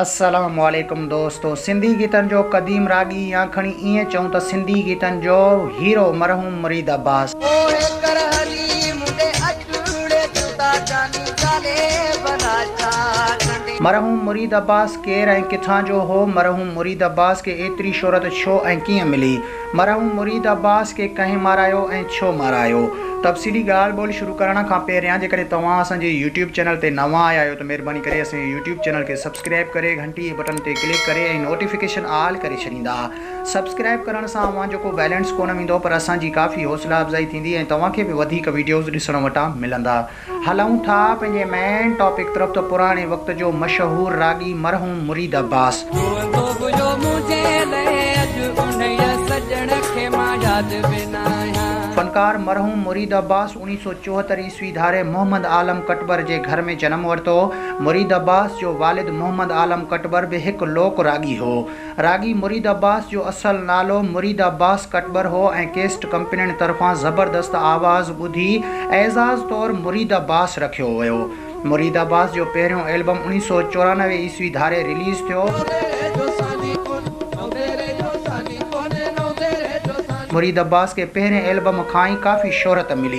السلام عليڪم دوستو سنڌي گيتن جو قديم راڳي يا کڻي ائين چئون ته سنڌي گيتن جو هيرو مرحوم مريد عباس. مرحوم مريد عباس ڪير ۽ ڪٿان جو هو؟ مرحوم مريد عباس کي ايتري شهرت ڇو ۽ ڪيئن ملي؟ مرحوم مريد عباس کي ڪنهن مارايو ۽ ڇو مارايو؟ تفصيلي ڳالهه ٻولهه شروع ڪرڻ کان پهريان جيڪڏهن توهان اسان جي يوٽيوب چينل تي نوان آيا آهيو ته مهرباني ڪري اسان جي يوٽيوب چينل کي سبسڪرائيب ڪري گهنٽي جي بٽن تي ڪلڪ ڪري ۽ نوٽيفڪيشن آل ڪري ڇڏيندا. سبسڪرائيب ڪرڻ سان اوهان جو ڪو بيلنس ڪونه ويندو پر اسان جي ڪافي حوصلا افزائي ٿيندي ۽ توهان کي به وڌيڪ وڊيوز ڏسڻ وٽان ملندا. هلون ٿا پنهنجي مين ٽاپڪ طرف ته پراڻي وقت جو مشهور راڳي مرحوم مريد عباس. روئندو به جو منهنجي لئه اڄ انهيء سڄڻ کي مان ياد به نه آهيان. فنڪار مرحوم مريد عباس اڻيهه سؤ چوهتر عيسوي ڌاري محمد عالم ڪٽٻر جي گهر ۾ جنم ورتو. مريد عباس جو والد محمد عالم ڪٽٻر به هڪ لوڪ راڳي هو. راڳي مريد عباس جو اصل نالو مريد عباس ڪٽٻر هو ۽ ڪيسٽ ڪمپنين طرفان زبردست آواز ٻڌي اعزاز طور مريد عباس رکيو ويو. مريد عباس جو پهريون البم اڻيهه سؤ چورانوي عيسوي ڌاري رليز ٿيو. مريد عباس کي پهرين البم کان ئي ڪافي شهرت ملي.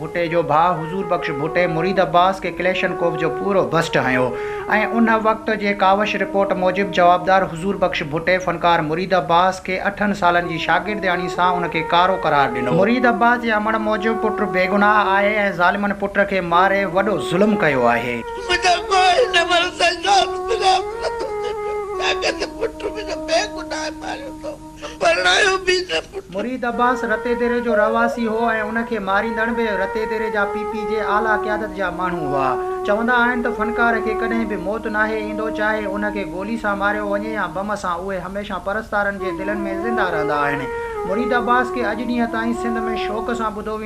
ڀٽي جو ڀاء حضور بخش ڀٽي مريد عباس کي ڪليشنڪوف جو پورو بسٽ هنيو ۽ ان وقت جي ڪاوش رپورٽ موجب جوابدار حضور بخش ڀٽي فنڪار مريد عباس کي اٺن سالن جي شاگردياڻي سان ان کي ڪارو قرار ڏنو. مريد عباس جي امڙ موجب پٽ بيگناهه آهي ۽ ظالمن پٽ کي ماري وڏو ظلم ڪيو آهي. منهنجو ڪو هن امڙ سان يار مليار نٿو ٿي پيو ڇاڪاڻ ته پٽ منهنجو بيگناهه ماريو اٿم. پرڻايو به نه پٽ. مريد عباس رتي ديري جو رهواسي هو ۽ ان کي ماريندڙ به رتي ديري جا پي پي جي اعليٰ قيادت جا ماڻهو هئا. چوندا آهن ته فنڪار کي ڪڏهن به موت ناهي ايندو چاهي ان کي گولي سان ماريو وڃي يا بم سان اهي هميشه پرستارن جي دلن ۾ زنده رهندا آهن. مريد عباس کي اڄ ڏينهن تائين سنڌ ۾ شوق سان ٻڌو ويندو